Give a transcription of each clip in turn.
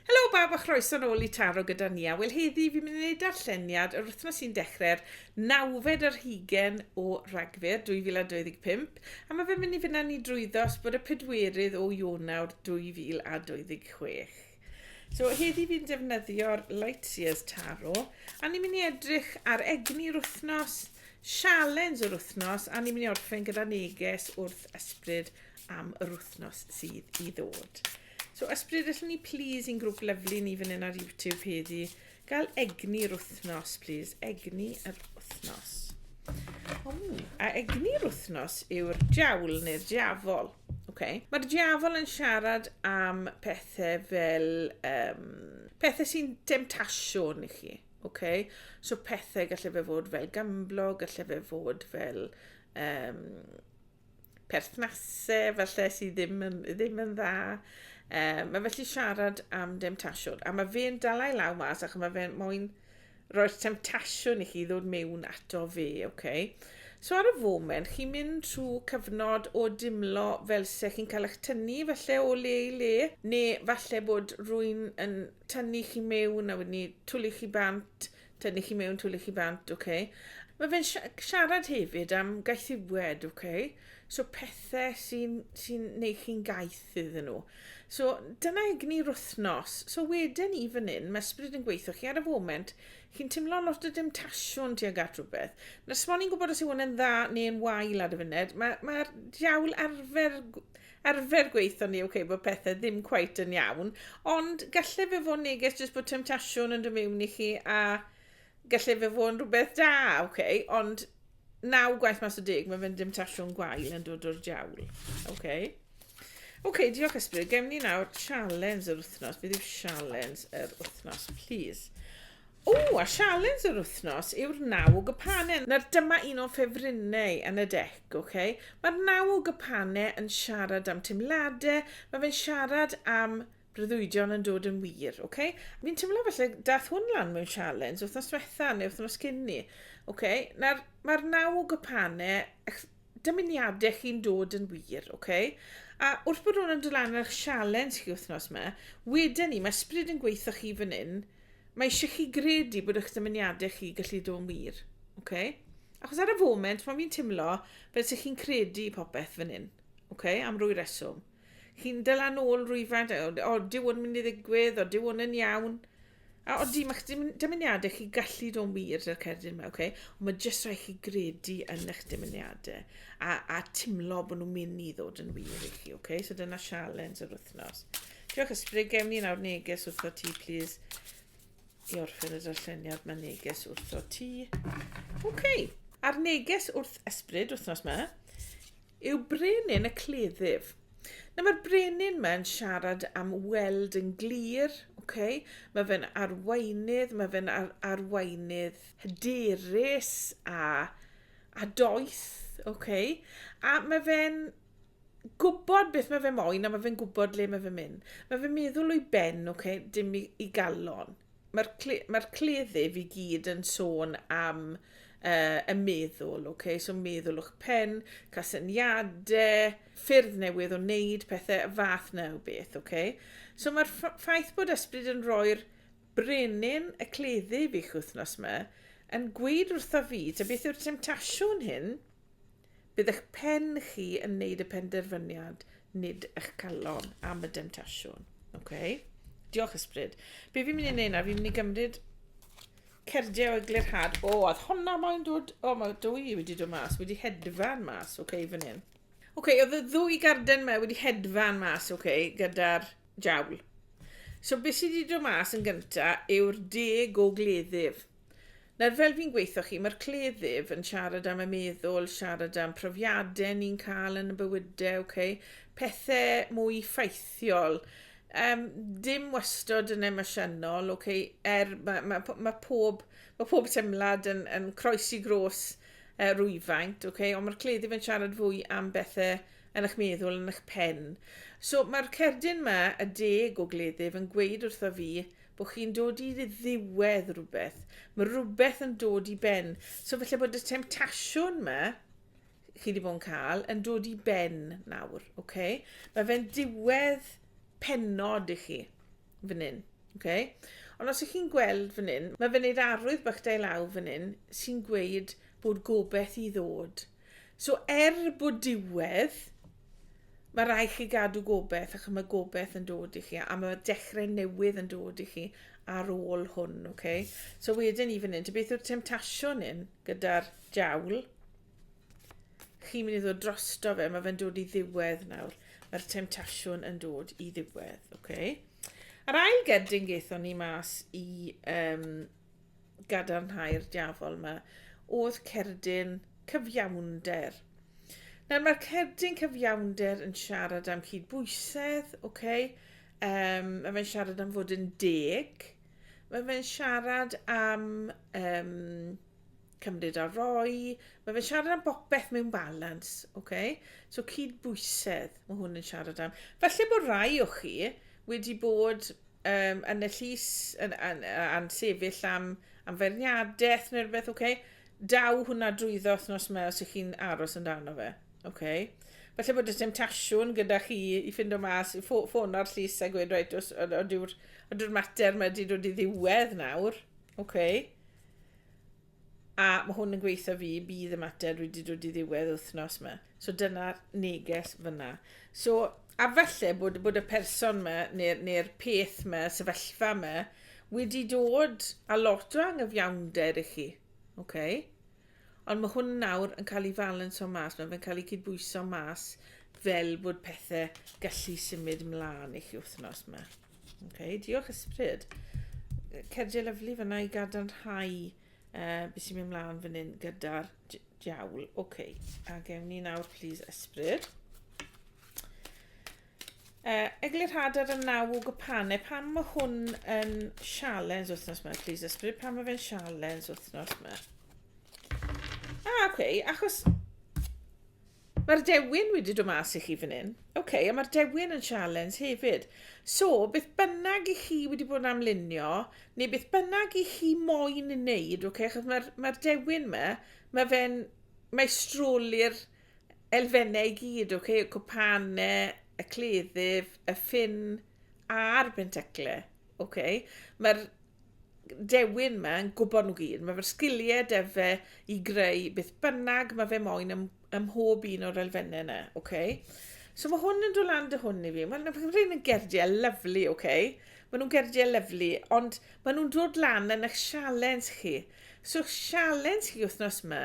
Helo bawb a chroeso nôl i Taro gyda Nia. Wel heddi fi'n mynd i wneud darlleniad yr wythnos sy'n dechrau'r nawfed yr hugen o Ragfyr 2025 a mae fe'n mynd i fyna ni drwyddo os bod y pedwerydd o Ionawr 2026. So heddi fi'n defnyddio'r Lightyears Taro a ni'n mynd i edrych ar egni'r wythnos, sialens yr wythnos a ni'n mynd i orffen gyda neges wrth ysbryd am yr wythnos sydd i ddod. So ysbrydell ni plîs i'n grwp lyfli ni fan hyn ar YouTube heddi. Gael egni yr wythnos plîs. Egni yr wythnos. A egni yr wythnos yw'r diawl neu'r diafol. Okay. Mae'r diafol yn siarad am pethau fel um, pethau sy'n demtasiwn i chi. Okay? So pethau gallai fe fod fel gamblo, gallai fe fod fel um, perthnasau falle sydd ddim yn, ddim yn dda. Um, mae felly siarad am demtasiwn. A mae fe'n dalai law mas ac mae fe'n moyn roi'r temtasiwn i chi ddod mewn ato fe, oce? Okay? So ar y foment, chi'n mynd trwy cyfnod o dimlo fel se chi'n cael eich tynnu felly o le i le, neu falle bod rwy'n yn tynnu chi mewn a wedyn ni twlu chi bant, Tynnu chi mewn, twli chi bant, ok. Mae fe'n siarad hefyd am gaethiwed, ok. So pethau sy'n sy neu chi'n gaeth iddyn nhw. So dyna egni'r wythnos. So wedyn i fan hyn, mae ysbryd yn gweithio chi ar y foment, chi'n teimlo lot o demtasiwn tuag at rhywbeth. Nes mo ni'n gwybod os yw hwn yn dda neu'n wael ar y funud, mae'r mae, diawl arfer arfer gweithio ni, ok, bod pethau ddim cweit yn iawn, ond gallai fe fod neges jyst bod temtasiwn yn dod mewn i chi a gallai fe fod yn rhywbeth da, ok, ond naw gwaith mas o deg, mae fe'n demtasiwn gwael yn dod o'r diawl. Ok. Ok, diolch Ysbryd. Gem ni nawr challenge yr wythnos. Beth yw challenge yr wythnos, please? O! A sialens yr wythnos yw'r naw o gypane. Nawr dyma un o'n ffefrynnau yn y dec, ok? Mae'r naw o gypane yn siarad am teimlade, mae fe'n siarad am breuddwydion yn dod yn wir, ok? Fi'n teimlo falle dath hwn lan mewn sialens wythnos diwetha neu wythnos cyn 'ny, ok? Nawr mae'r naw o gypane, ych dymuniade chi'n dod yn wir, ok? A wrth bod hwn yn dod lan ar 'ych sialens chi wythnos 'ma, weden i, ma' ysbryd yn gweitho chi fan 'yn, Mae eisiau chi gredu bod eich dymuniadau chi gallu dod yn wir. Okay? Achos ar y foment, mae fi'n timlo fel sy'n chi'n credu popeth fan hyn. Okay? Am rwy reswm. Chi'n dylan ôl rwyfant, o, dyw hwn mynd i ddigwydd, o, dyw hwn yn iawn. A o di, mae'ch dymuniadau chi gallu dod yn wir dy'r cerdyn yma, okay? Ond mae jyst rhaid chi gredu yn eich dymuniadau a, a timlo bod nhw'n mynd i ddod yn wir i chi, okay? So dyna sialens yr wythnos. Diolch Ysbri, gewn ni nawr neges wrtho ti, plis. I orffen y darlleniad, mae neges wrtho ti. Oce, okay. a'r neges wrth ysbryd wythnos yma yw brenin y cleddyf. Na mae'r brenin mae'n siarad am weld yn glir, okay? mae fe'n arweinydd, mae fe'n ar arweinydd hyderus a, a doeth, okay? a mae fe'n gwybod beth mae fe moyn a mae fe'n gwybod le mae fe'n mynd. Mae fe'n meddwl o'i ben, oce, okay, dim i, i galon. Mae'r cle, mae cleddyf i gyd yn sôn am uh, y meddwl, oce, okay? so meddwl o'ch pen, casyniadau, ffyrdd newydd o wneud pethau, y fath na o beth, oce. Okay? So mae'r ffaith bod ysbryd yn rhoi'r brenin y cleddyf i'ch wythnos yma, yn gweud wrtho fi, ta beth yw'r temtasiwn hyn, Bydd eich pen chi yn wneud y penderfyniad, nid eich calon am y demtasiwn. Okay? Diolch ysbryd. Be fi'n mynd i wneud na? Fi'n mynd i gymryd cerdiau o eglurhad. O, oh, oedd honna mae'n dod... O, oh, mae dwy wedi dod mas. Wedi hedfan mas, oce, okay, fan hyn. Oce, okay, oedd y ddwy garden mae wedi hedfan mas, oce, okay, gyda'r jawl. So, beth sydd wedi dod mas yn gyntaf yw'r deg o gleddyf. Nawr fel fi'n gweithio chi, mae'r cleddyf yn siarad am y meddwl, siarad am profiadau ni'n cael yn y bywydau, okay? pethau mwy ffaithiol. Um, dim wastod yn emosiynol, okay? er mae, mae, mae, pob, mae pob teimlad yn, yn croes i gros uh, rwyfaint, okay? ond mae'r cleddyf yn siarad fwy am bethau yn eich meddwl, yn eich pen. So mae'r cerdyn yma, y deg o gleddyf, yn gweud wrtho fi, bod chi'n dod i ddiwedd rhywbeth. Mae rhywbeth yn dod i ben. So felly bod y temtasiwn yma, chi wedi bod yn cael, yn dod i ben nawr. Okay? Mae fe'n diwedd penod i chi fan hyn. Okay? Ond os ych chi'n gweld fan hyn, mae fe'n neud arwydd bach da i law fan hyn sy'n gweud bod gobeith i ddod. So er bod diwedd, mae rhaid chi gadw gobeith, ac mae gobeith yn dod i chi, a mae dechrau newydd yn dod i chi ar ôl hwn, oce? Okay? So wedyn ni fan hyn, beth yw'r temtasiwn hyn gyda'r diawl? Chi'n mynd i ddod drosto fe, mae fe'n dod i ddiwedd nawr. Mae'r temtasiwn yn dod i ddiwedd, oce? Okay? A'r ail gerdyn gaethon ni mas i um, gadarnhau'r diafol yma, oedd cerdyn cyfiawnder. Nawr mae'r cerdyn cyfiawnder yn siarad am cydbwysedd, oce, okay? um, mae fe'n siarad am fod yn deg, mae fe'n siarad am um, cymryd a roi, mae fe'n siarad am bopeth mewn balans, oce? Okay? So cydbwysedd, mae hwn yn siarad am. Felly bod rai o chi wedi bod um, yn y llys, yn, yn, yn sefyll am, am ferniadaeth neu rhywbeth, oce? Okay? Daw hwnna drwyddo nos yma os ych chi'n aros yn dan o fe, oce? Okay? Felly bod y temptasiwn gyda chi i ffind o mas, i ffôn o'r llys a gweud, reit, os ydyw'r mater mae wedi dod i ddiwedd nawr, oce? Okay? A mae hwn yn gweithio fi, bydd y mater wedi dod i ddiwedd wythnos yma. So dyna'r neges fyna. So, a falle bod, bod y person yma, neu'r neu peth yma, sefyllfa yma, wedi dod a lot o angyfiawnder i chi. Okay? Ond mae hwn nawr yn cael ei falans o mas, mae fe'n cael ei cydbwyso mas fel bod pethau gallu symud ymlaen i chi wythnos yma. Okay, diolch ysbryd. Cerdiau lyflu fyna i gadarnhau uh, beth sy'n mynd mlaen fan hyn gyda'r diawl. Oce, okay. a gewn ni nawr, please, ysbryd. Uh, Eglur Hadar yn naw o gypanau. Pam mae hwn yn sialens wythnos yma, please, ysbryd? Pam mae fe'n sialens wythnos yma? Ah, oce, okay. achos Mae'r dewin wedi dod mas i chi fan hyn. OK, a mae'r dewin yn sialens hefyd. So, beth bynnag i chi wedi bod yn amlunio, neu beth bynnag i chi moyn yn neud, OK, achos mae'r mae dewin yma, mae fe'n maestroli'r elfennau i gyd, OK, y cwpanau, y cleddyf, y ffin a'r benteclau. OK, mae'r dewin ma yn gwybod nhw gyd. Mae fe'r sgiliau de fe i greu beth bynnag mae fe moyn ym, ym mhob un o'r elfennau yna. Okay? So mae hwn yn dod lan dy hwn i fi. Mae'n rhaid yn gerdiau lyflu, oce? Okay? Mae nhw'n gerdiau lyflu, ond mae nhw'n dod lan yn eich sialens chi. So sialens chi wythnos yma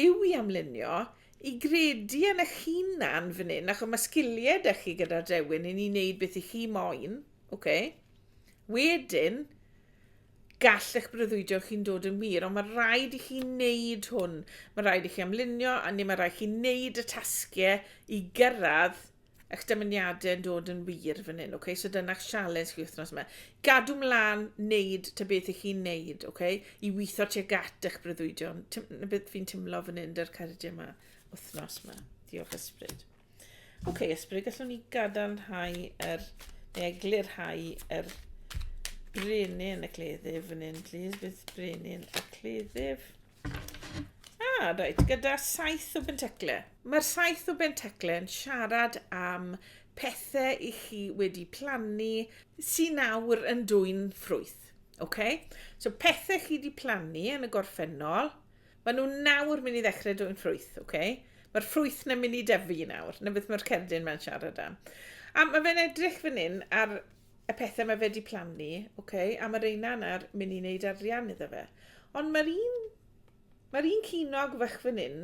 yw i amlunio i gredu yn eich hunan fan hyn, achos mae sgiliau da chi gyda'r dewin i ni wneud beth i chi moyn. Oce. Wedyn, gall eich breuddwydio chi'n dod yn wir, ond mae rhaid i chi wneud hwn. Mae rhaid i chi amlunio, a neu mae rhaid i chi wneud y tasgiau i gyrraedd eich dymuniadau yn dod yn wir fan hyn, okay? So dyna'ch sialens chi wythnos yma. Gadw mlaen wneud ta beth i chi'n wneud, okay? I weithio tuag at eich breuddwydion. Na beth fi'n timlo fan hyn, dy'r cardiau yma, wythnos yma. Diolch ysbryd. Oce, okay, ysbryd, gallwn ni gadarnhau yr, neu eglurhau yr brenin y cleddyf fan hyn, please. Bydd brenin y cleddyf. Ah, reit, gyda saith o bentecle. Mae'r saith o bentecle yn siarad am pethau i chi wedi plannu sy'n nawr yn dwy'n ffrwyth. Okay? So pethau chi wedi plannu yn y gorffennol, Maen nhw nawr mynd i ddechrau dwyn ffrwyth, ok? Mae'r ffrwyth na mynd i dyfu nawr, na beth mae'r cerdyn mae'n siarad am. A mae fe'n edrych fan hyn ar y pethau mae fe di plannu, ok? A mae reina yna'r mynd i wneud arian iddo fe. Ond mae'r un, mae'r un cynog fach fan hyn,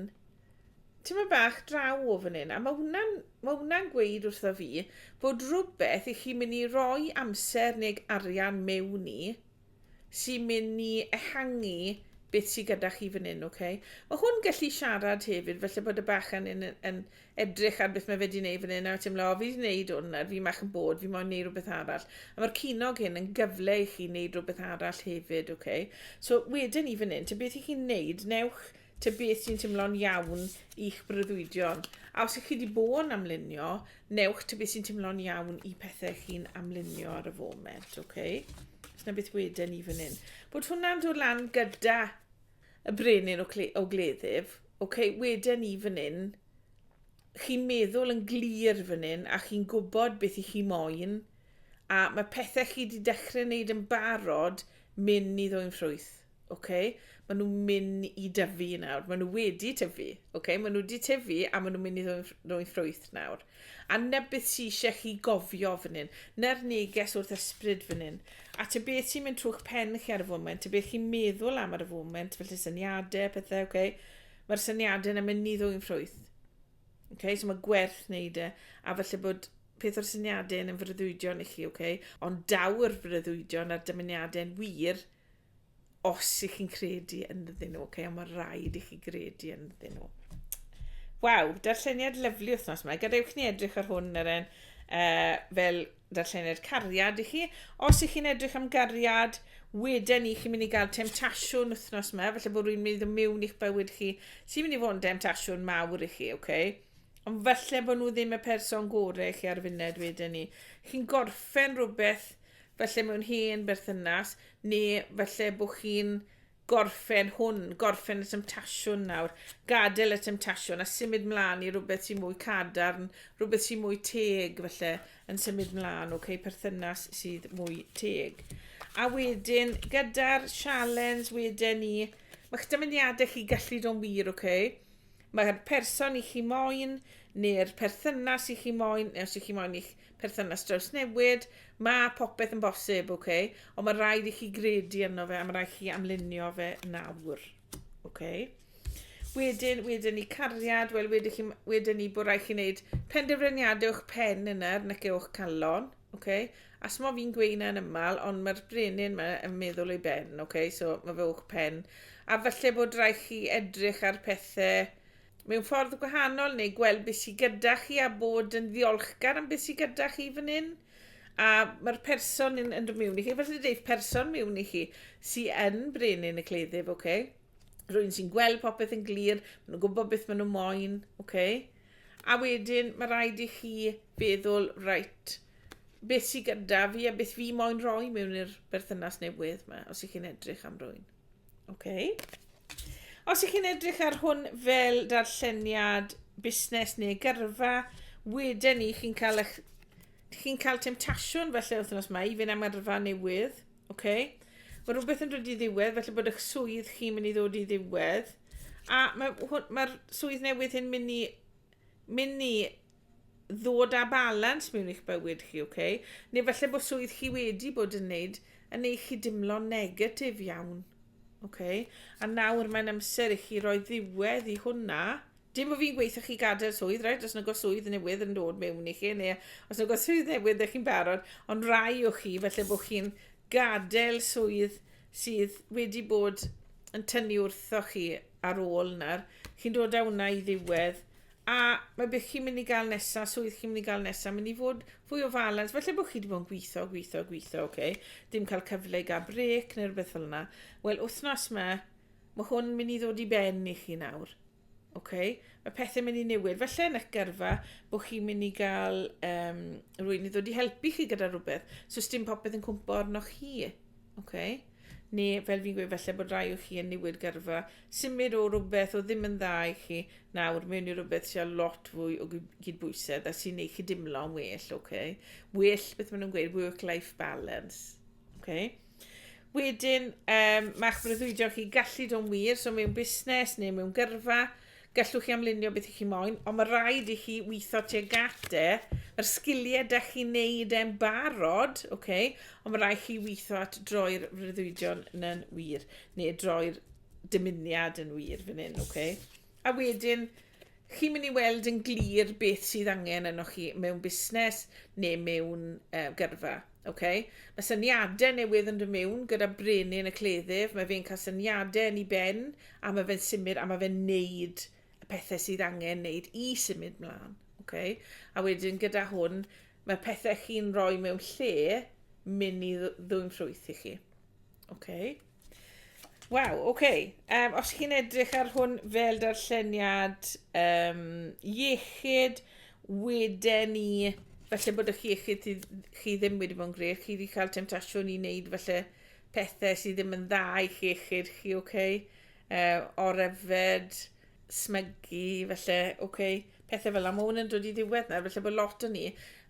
ti'n mynd bach draw o fan hyn, a mae hwnna'n ma hwnna gweud wrtho fi bod rhywbeth i chi mynd i roi amser neu arian mewn i, sy'n mynd ni ehangu beth sydd gyda chi fan hyn, ok? Mae hwn gallu siarad hefyd, felly bod y bachan yn, yn edrych ar beth mae fe wedi gwneud fan hyn, a ti'n meddwl, o, fi wedi gwneud hwn, a fi mach yn bod, fi moyn gwneud rhywbeth arall. A mae'r cynog hyn yn gyfle i chi wneud rhywbeth arall hefyd, ok? So, wedyn ni fan hyn, te beth i chi'n gwneud, newch Tybed beth sy'n timlo'n iawn i'ch breuddwydion? A os ych chi wedi bod yn amlunio, newch tybed beth sy'n timlo'n iawn i pethau chi'n amlunio ar y foment, okay? Os na beth wedyn ni fan hyn. Bod hwnna'n dod lan gyda y brenin o, o gleddyf, okay? wedyn ni fan hyn, chi'n meddwl yn glir fan hyn a chi'n gwybod beth i chi moyn a mae pethau chi wedi dechrau wneud yn barod mynd i ddwy'n ffrwyth. Ok, ma' nhw'n myn' i dyfu nawr. Ma' nhw wedi tyfu. Ok, ma' nhw wedi tyfu a ma' nhw'n mynd i ddod yn ff- ddod yn ffrwyth nawr. A 'na beth sy isie chi gofio fan hyn. 'Na'r neges wrth ysbryd fan hyn. A ta beth sy'n mynd trw'ch pen chi ar y foment, ta beth chi'n meddwl am ar y foment, felly syniade, pethe, ok? Ma'r syniade 'na mynd i ddod yn ffrwyth. Ok, so ma' gwerth wneud e, a falle bod peth o'r syniade yn freuddwydion i chi, ok? Ond daw'r freuddwydion a'r dymuniade'n wir Os i chi'n credu ynddyn nhw, okay, ond mae rhaid i chi gredu ynddyn nhw. Waw, darlleniad lyflu wythnos yma. Gadewch ni edrych ar hwn yr un uh, fel darlleniad cariad i chi. Os ych chi'n edrych am gariad, wedyn ni chi'n mynd i gael temtasiwn wythnos yma, felly bod rwy'n mynd i mewn i'ch bywyd chi, sy'n mynd i fod yn temtasiwn mawr i chi, oce? Okay? Ond falle bod nhw ddim y person gorau i chi ar wedyn ni. Chi'n gorffen rhywbeth falle mewn hen berthynas, neu falle bod chi'n gorffen hwn, gorffen y temtasiwn nawr, gadael y temtasiwn a symud mlaen i rhywbeth sy'n mwy cadarn, rhywbeth sy'n mwy teg felly yn symud mlaen, okay, perthynas sydd mwy teg. A wedyn, gyda'r sialens wedyn ni, mae'ch dymuniadau chi gallu do'n wir, okay? Mae'r person i chi moyn, neu'r perthynas i chi moyn, neu os i chi moyn i'ch perthynas drawsnewid, mae popeth yn bosib, ok? Ond mae rhaid i chi gredu yno fe, a mae rhaid chi amlunio fe nawr, ok? Wedyn, wedyn ni cariad, wel wedyn, chi, wedyn ni bod rhaid chi wneud penderfyniadau o'ch pen yna, nac e o'ch calon, ok? A smo fi'n gweud yn ymal, ond mae'r brenin yma yn meddwl ei ben, ok? So mae fe o'ch pen. A falle bod rhaid chi edrych ar pethau mewn ffordd gwahanol neu gweld beth sydd gyda chi a bod yn ddiolchgar am beth sydd gyda chi fan hyn a mae'r person yn, yn dod mewn i chi, felly dweud person mewn i chi sydd yn brenin y cleddyf, oce? Okay? Rwy'n sy'n gweld popeth yn glir, maen nhw'n gwybod beth maen nhw moyn, oce? Okay? A wedyn mae rhaid i chi feddwl, reit, beth sydd gyda fi a beth fi moyn rhoi mewn i'r berthynas newydd yma, os ych chi'n edrych am rwy'n. Oce. Os ych chi'n edrych ar hwn fel darlleniad busnes neu gyrfa, wedyn ni chi'n cael eich... chi'n cael temtasiwn felly wythnos yma i fynd am yrfa newydd. Oce. Mae rhywbeth yn dod i ddiwedd, felly bod eich swydd chi'n mynd i ddod i ddiwedd. A mae'r mae swydd newydd hyn mynd i mynd i ddod â balans mewn i'ch bywyd chi, ok? Neu falle bod swydd chi wedi bod yn neud yn ei chi dimlo negatif iawn. Ok? A nawr mae'n amser i chi roi ddiwedd i hwnna. Dim bod fi'n gweithio chi gadael swydd, right? Os nag o swydd newydd yn dod mewn i chi, neu os nag o swydd newydd ydych chi'n barod, ond rai o chi, felly bod chi'n gadael swydd sydd wedi bod yn tynnu wrtho chi ar ôl na'r, chi'n dod â hwnna i ddiwedd, A mae beth chi'n mynd i gael nesaf, swydd chi'n mynd i gael nesaf, mynd i fod fwy o falans. Felly bod chi wedi bod yn gweithio, gweithio, gweithio, oce. Okay. Dim cael cyfle i gael brec neu rhywbeth fel yna. Wel, wythnos yma, mae hwn mynd i ddod i ben i chi nawr. Okay? Mae pethau mynd i newid. Felly yn eich gyrfa, bod chi'n mynd i gael um, rwy'n i ddod i helpu chi gyda rhywbeth. So, dim popeth yn cwmpo arnoch chi. Okay? Neu, fel fi'n gweud, felly bod rai o chi yn newid gyrfa, Symud o rywbeth oedd ddim yn dda i chi nawr mewn i rywbeth sydd â lot fwy o gydbwysedd a sy'n ei chi dimlo'n well, oce? Okay? Well, beth maen nhw'n gweud, work-life balance. Okay? Wedyn, um, mae'ch breuddwydio chi gallu do'n wir, so mewn busnes neu mewn gyrfa, gallwch chi amlunio beth i chi moyn, ond mae rhaid i chi weithio tuag gate, mae'r sgiliau da chi'n neud e'n barod, okay? ond mae rhaid chi weithio at droi'r freuddwydion yn wir. Neu droi'r dymuniad yn wir fan hyn, oce? Okay? A wedyn, chi'n mynd i weld yn glir beth sydd angen yno chi mewn busnes neu mewn uh, gyrfa. Okay? Mae syniadau newydd yn dod mewn gyda brenin y cleddyf, mae fe'n cael syniadau yn ei ben, a mae fe'n symud, a mae fe'n neud y pethau sydd angen neud i symud mlaen. Okay? A wedyn gyda hwn, mae pethau chi'n rhoi mewn lle mynd i ddwyn ffrwyth i chi. Oce. Waw, oce. Yym, os chi'n edrych ar hwn fel darlleniad um, iechyd, wedyn ni, falle bod eich iechyd chi, chi ddim wedi bod yn gred, chi wedi cael temtasiwn i wneud falle pethau sydd ddim yn dda i chi iechyd chi, oce? Okay? Uh, o'r yfed, smygu, felly, oce, okay, pethau fel yna. Mae hwn yn dod i ddiwedd nawr, felly bod lot o ni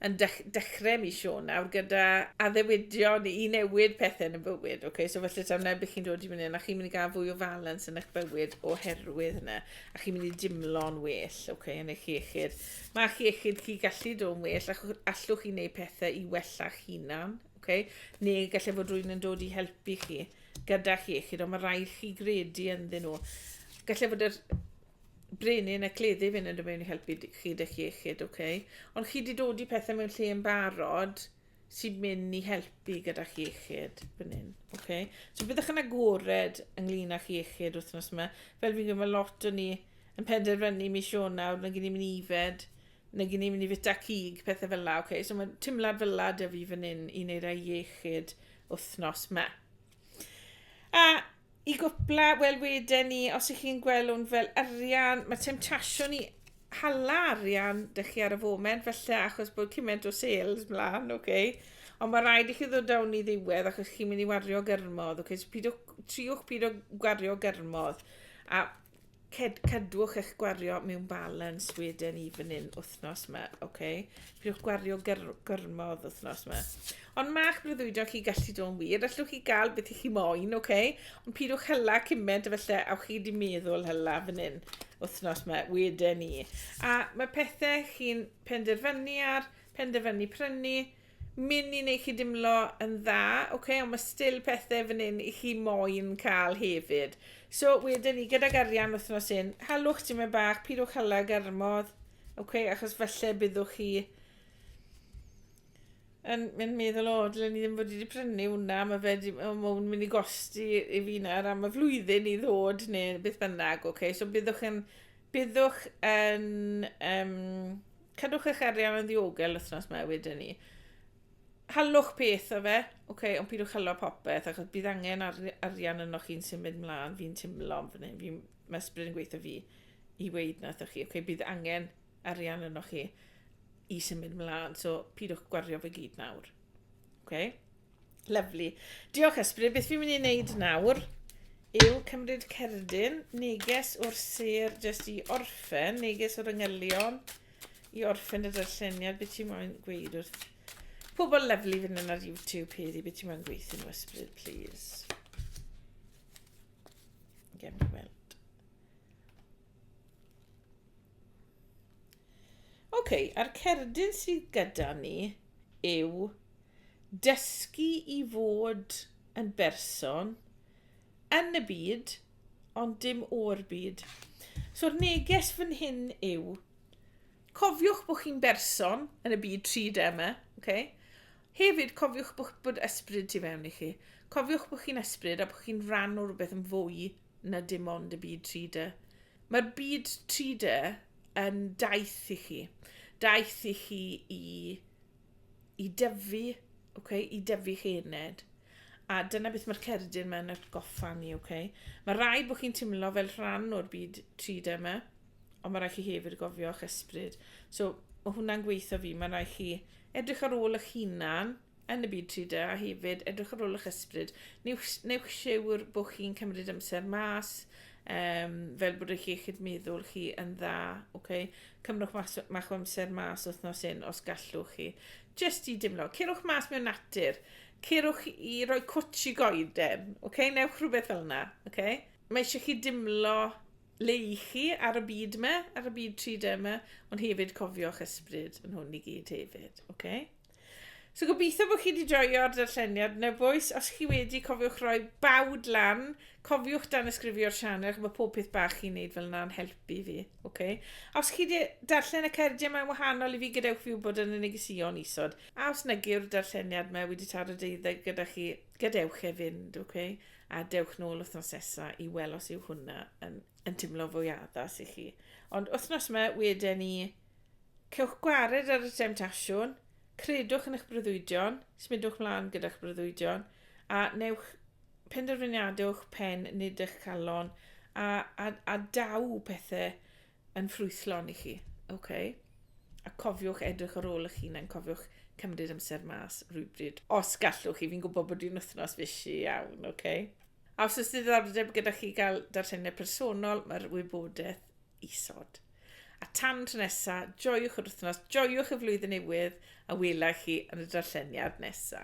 yn dech, dechrau mis Sion nawr gyda addewidion i newid pethau yn y bywyd. Oce, okay, so felly tam neb chi'n dod i fyny yna, chi'n mynd i gael fwy o falans yn eich bywyd oherwydd yna, a chi'n mynd i dimlo'n well, oce, okay, yn eich iechyd. Mae chi iechyd chi gallu dod well, ac allwch chi wneud pethau i wella'ch hunan, oce, okay? neu gallai fod rwy'n yn dod i helpu chi gyda'ch iechyd, ond mae rhaid chi gredu ynddyn nhw. Gallai fod yr brenin a cleddi fynd yn y mewn i helpu chi dych iechyd, oce? Okay? Ond chi wedi dod i pethau mewn lle yn barod sy'n mynd i helpu gyda'ch iechyd fan hyn, oce? Okay? So byddwch yn agored ynglyn â'ch iechyd wythnos yma. Fel fi'n gwybod, mae lot o ni yn penderfynu mis Ionawr, mae'n gen i mynd i fed nag i ni mynd i fita cig, pethau fel la, okay? So mae timlad fel la dy fi fan hyn i wneud ei iechyd wythnos ma. A i gwpla, wel wedyn ni, os ych chi'n gweld hwn fel arian, mae temtasiwn i hala arian dy chi ar y foment, felly achos bod cymaint o sales mlaen, oce? Okay? Ond mae rhaid i chi ddod down i ddiwedd achos chi'n mynd i wario gyrmodd, oce? Okay? So pidwch, triwch pidwch gwario gyrmodd. A Ced, cadwch eich gwario mewn balans wedyn i fan hyn wythnos yma, oce? Okay? Pidwch gwario gyr, gyrmodd wythnos yma. Ond mae'ch breuddwydio chi gallu dod yn wir, allwch chi gael beth i chi moyn, oce? Okay? Ond pidwch hylla cymaint a felly, awch chi wedi meddwl hylla fan hyn wythnos yma wedyn ni. A mae pethau chi'n penderfynu ar, penderfynu prynu, mynd i neu chi dimlo yn dda, ok, ond mae still pethau fan hyn i chi moyn cael hefyd. So, wedyn ni, gydag arian wythnos un, halwch ti'n mynd bach, pidwch hala garmodd, ok, achos falle byddwch chi yn mynd meddwl, o, dylen ni ddim fod wedi prynu hwnna, mae fe wedi, o, mae hwn mynd i gosti i fi nawr am y flwyddyn i ddod, neu beth bynnag, ok, so byddwch yn, byddwch yn, um, Cadwch eich arian yn ddiogel wythnos mae wedyn ni. Halwch peth o fe, oce, okay, ond pidwch halo popeth, achos bydd angen ar, arian yno chi'n sy'n mynd mlaen, fi'n timlo fan hyn, fi, mae ysbryd yn gweithio fi i weid na chi, oce, okay, bydd angen arian yno chi i sy'n mynd mlaen, so pidwch gwario fe gyd nawr. Oce? Okay? Lyfli. Diolch Ysbryd, beth fi'n mynd i wneud nawr yw cymryd cerdyn, neges o'r sir jyst i orffen, neges o'r yngylion i orffen y darlleniad, beth ti'n moyn gweud wrth pobl lyflu fynd yn ar YouTube heddi, beth ti'n moyn gweithio nhw Ysbryd, please. Gem i weld. OK, a'r cerdyn sydd gyda ni yw dysgu i fod yn berson yn y byd, ond dim o'r byd. So'r neges fan hyn yw, cofiwch bod chi'n berson yn y byd 3D yma, okay? Hefyd, cofiwch bod, bod ysbryd tu fewn i chi. Cofiwch bod chi'n ysbryd a bod chi'n rhan o rhywbeth yn fwy na dim ond y byd 3D. Mae'r byd 3D yn daith i chi. Daith i chi i, i dyfu, okay? i dyfu chi ened. A dyna beth mae'r cerdyn mae'n atgoffa ni, oce? Mae rhaid bod chi'n teimlo fel rhan o'r byd 3D yma, ond mae rhaid chi hefyd gofio eich ysbryd. So, mae hwnna'n gweithio fi, mae rhaid chi edrych ar ôl eich hunan, yn y byd 3D a hefyd edrych ar ôl eich ysbryd. Newch, newch siwr bod chi'n cymryd amser mas, um, fel bod eich iechyd meddwl chi yn dda. Okay? Cymrwch mas, mach o amser mas wythnos un os gallwch chi. Just i dimlo. Cerwch mas mewn natur. Cerwch i roi cwtch i goeden. Okay? Newch rhywbeth fel yna. Okay? Mae eisiau chi dimlo le i chi ar y byd yma, ar y byd 3D yma, ond hefyd cofio'ch ysbryd yn hwn i gyd hefyd. Okay? So gobeithio bod chi wedi joio'r darlleniad nebwys. Os chi wedi, cofiwch roi bawd lan. Cofiwch dan ysgrifio'r sianel, mae pob peth bach chi'n neud fel yna'n helpu fi. Okay? Os chi wedi darllen y cerdiau mae'n wahanol i fi, gadewch fi wybod yn y negesion isod. A os nag yw'r darlleniad mae wedi taro deuddeg gyda chi, gadewch e fynd, okay? a dewch nôl wythnos nesa i weld os yw hwnna yn, yn teimlo fwy addas i chi. Ond wythnos yma, wedyn ni, Cewch gwared ar y temtasiwn, credwch yn eich breuddwydion, symudwch mlaen gyda'ch breuddwydion, a newch penderfyniadau o'ch pen, nid eich calon, a, a, a daw pethau yn ffrwythlon i chi. Okay? A cofiwch edrych ar ôl eich hunain, cofiwch cymryd amser mas rhywbryd. Os gallwch chi, fi'n gwybod bod i'n wythnos fysi iawn, oce? Okay? A os oes diddordeb gyda chi gael darlleniad personol, mae'r wybodaeth isod. A tan tro nesa, joiwch yr wythnos, joiwch y flwyddyn newydd, a wela chi yn y darlleniad nesa.